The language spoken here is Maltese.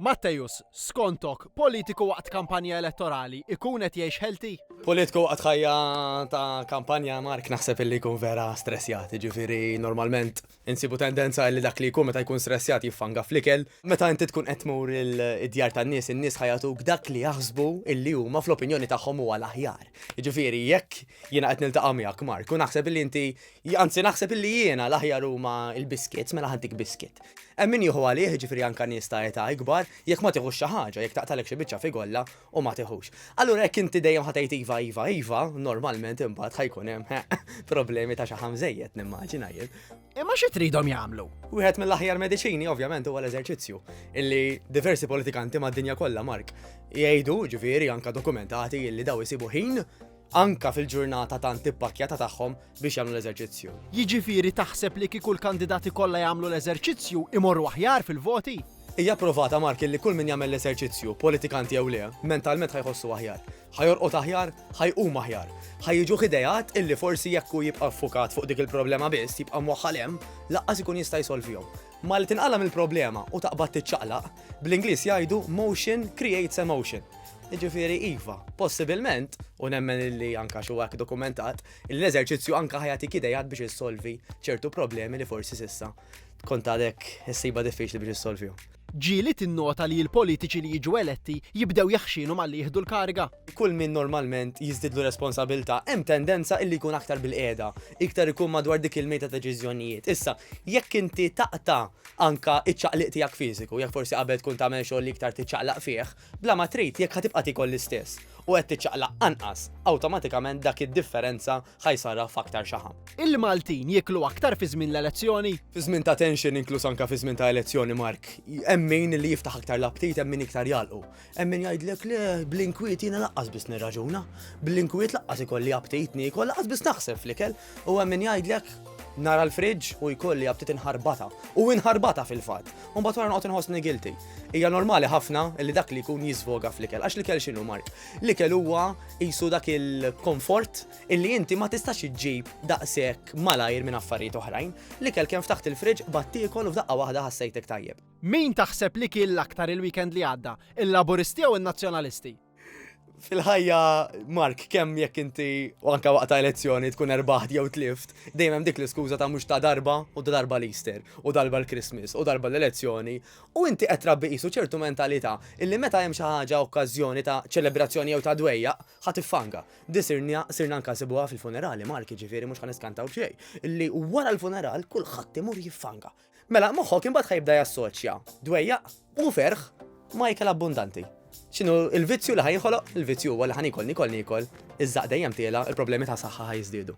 Matthews, Skontok, politiku waqt kampanja elettorali ikun qed jgħix healthy? Politku waqt ħajja ta' kampanja Mark naħseb illi jkun vera stressjat, ġifiri normalment insibu tendenza li dak li jkun meta jkun stressjat jiffanga flikel. Meta inti tkun qed tmur id-djar tan-nies, in-nies ħajatuk dak li jaħsbu illi huma fl-opinjoni tagħhom huwa l-aħjar. Ġifiri jekk jiena qed niltaqa' miegħek Mark u naħseb illi inti Anzi naħseb illi jiena l-aħjar huma l-biscuits, mela ħaddik biscuit. Hemm min jieħu għalih, ġifieri anke nies ta' età ikbar, jekk ma tieħux xi ħaġa, jekk taqtagħlek xi biċċa figolla u ma tiħux. Allura jekk inti dejjem ħa tgħid iva, iva, iva, normalment imbagħad ħa jkun hemm problemi ta' xaħam żejjed nimmaġina jien. Imma xi tridhom jagħmlu? Wieħed mill-aħjar mediċini ovvjament huwa l-eżerċizzju, illi diversi politikanti mad-dinja kollha Mark jgħidu, ġifieri anke dokumentati illi daw isibu ħin anke fil-ġurnata tant ippakkjata tagħhom biex jagħmlu l-eżerċizzju. Jiġifieri taħseb li kieku l-kandidati kollha jagħmlu l-eżerċizzju imorru aħjar fil-voti? Hija pprovata Mark illi kull min jagħmel l-eżerċizzju, politikant jew le, mentalment ħa jħossu aħjar. Ħa jorqod aħjar, ħa jqum aħjar. Ħa jiġuh ideat illi forsi jekk hu jibqa' ffukat fuq dik il-problema biss, jibqa' mwaħħal hemm, lanqas ikun jista' jsolvihom. Malli tinqala' mill-problema u taqbad tiċċaqlaq, bl-Ingliż jgħidu motion creates emotion. Jiġifieri iva, possibilment, u nemmen li anke għax huwa hekk dokumentat, li l-eżerċizzju anke ħa jagħtik ideat biex issolvi ċertu problemi li forsi s'issa kont għadek issibha diffiċli biex issolvihom. Ġieli tinnota li l-politiċi li jiġu eletti jibdew jaħxinhom għal li jieħdu l-kariga? kull min normalment jiżdidlu responsabilta hemm tendenza illi jkun aktar bil-qiegħda, iktar ikun madwar dik il-mejda ta' ġiżjonijiet. Issa, jekk inti taqta' anka iċ-ċaqliq tiegħek fiżiku, jekk forsi qabel tkun tagħmel xogħol li iktar tiċċaqlaq fih, bla ma trid jekk ħa tibqa' tikol l-istess u qed tiċċaqlaq anqas, awtomatikament dak id-differenza ħa jsarraf f'aktar xaħam. Il-Maltin jieklu aktar fi żmien l-elezzjoni? Fi żmien ta' tension inkluż anka fi żmien ta' elezzjoni Mark, hemm min li jiftaħ aktar l-aptit hemm min iktar jagħlqu. Hemm min jgħidlek le bl-inkwiet jiena laqqas biss nirraġuna, bl-inkwiet laqqas ikolli aptit niekol, laqqas biss naħseb fl-ikel, u hemm min jgħidlek nara l-friġġ u jkolli aptit inħarbata. U inħarbata fil-fatt. U mbagħad wara noqgħod inħossni guilty. Hija normali ħafna li dak li jkun jisfoga fl-ikel. Għax l-ikel x'inhu Mark? L-ikel huwa qisu dak il-komfort illi inti ma tistax iġġib daqshekk malajr minn affarijiet oħrajn. L-ikel kemm ftaħt il-friġġ, bad tiekol u f'daqqa waħda ħassejtek tajjeb. Min taħseb li kien l-aktar il-weekend li għadda, il-Laburisti jew in-Nazzjonalisti? Fil-ħajja, Mark, kemm jekk inti u anka waqt ta' elezzjoni tkun erbaħt jew tlift, dejjem hemm dik l-iskuża ta' mhux ta' darba u ta' darba l-Easter u darba l-Christmas u darba l-elezzjoni u inti qed trabbi qisu ċertu mentalità illi meta hemm xi ħaġa okkażjoni ta' ċelebrazzjoni jew ta' dwejjaq ħa tiffanga. Di sirna sirna anka nsibuha fil-funerali, Mark, jiġifieri mhux ħa niskantaw b'xejn, illi wara l-funeral kulħadd imur jiffanga. Mela, moħħok imbagħad ħajbda jassoċja dwejjaq u ferħ ma' ikel abbundanti. X'inhu il-vizzju li ħajinħoloq? Il-vizzju huwa li ħanikol nikol nikol, iż-żaq dejjem tiela, il-problemi ta' saħħa ħajżdiedu.